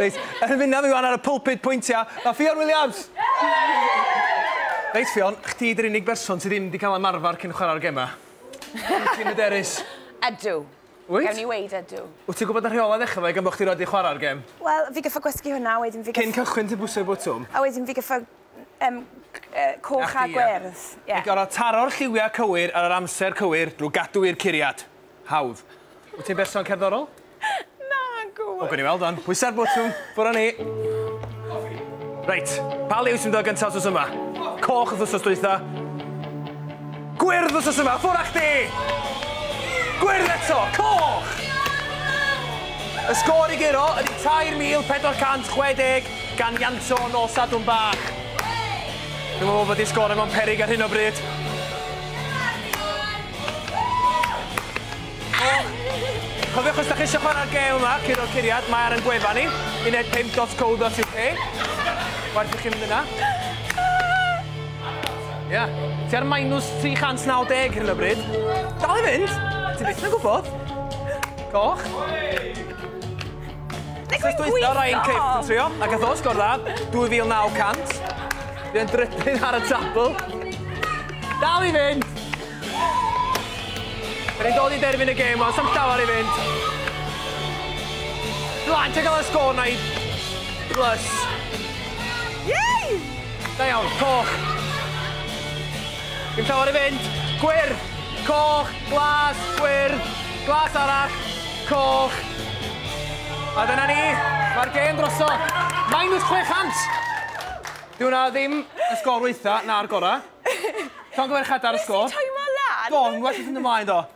Reit, yn mynd â fi wan ar y pulpit pwyntia, mae Ffion Williams! Reit Ffion, chdi di'r unig berson sydd ddim wedi cael ymarfer cyn chwarae'r gemau. Wyt ti'n hyderus? Ydw. Wyt? Gawn ni weud ydw. Wyt ti'n gwybod y rheolau ddechrau fe gan bod chdi rioed wedi chwarae'r gem? Wel, fi gyffa gwesgu hwnna, a wedyn fi gyff... Cyn cychwyn ti'n pwsio'r botwm? A wedyn fi gyffa um, coch a gwerth. Yeah. Mae gorau taro'r lliwiau cywir ar yr amser cywir drwy gadw i'r curiad. Hawdd. Wyt ti'n berson cerddorol? Nagw! O, gawn ni weld wan. Pwysa'r botwm. Ffwr â ni. Reit, pa liw sy'n dod gyntaf wsos yma? Coch wrth wsos dwytha. Gwyrdd wrth wsos yma. Ffwr â chdi! Gwyrdd eto! Coch! Y sgôr i guro ydy 3,460 gan Ianto yn ôl Sadwrn Bach. Dwi'n meddwl bod i sgôr yn o'n perig ar hyn o bryd. Cofiwch os da chi eisiau chwarae'r gêm yma, curo curiad, mae ar yn gwefan ni, uned5.co.uk. Waeth i chi mynd yna. Ia, yeah. ti ar minus 390 hyn o bryd. Dal i fynd, ti byth yn gwybod. Goch. Nes dweitha Ryan Cip yn trio, a gath o sgor dda, 2900. Fi yn drypyn ar y tabl. Dal i fynd! Rydyn ni'n dod i derfyn y gêm, ond sam llawer i fynd. Blant yn cael y sgôr na i... Plus. Yay! Da iawn, coch. Dim llawer i fynd. Gwyrdd, coch, glas, gwyrdd, glas arall, coch. A dyna ni, mae'r gêm drosodd. Minus 600! Dyw hwnna ddim y sgôr waetha, na'r gora. Llongyfarchiadau ar y sgôr. Sut ti'n teimlo lan? Do, yn well wrth fynd ymlaen do.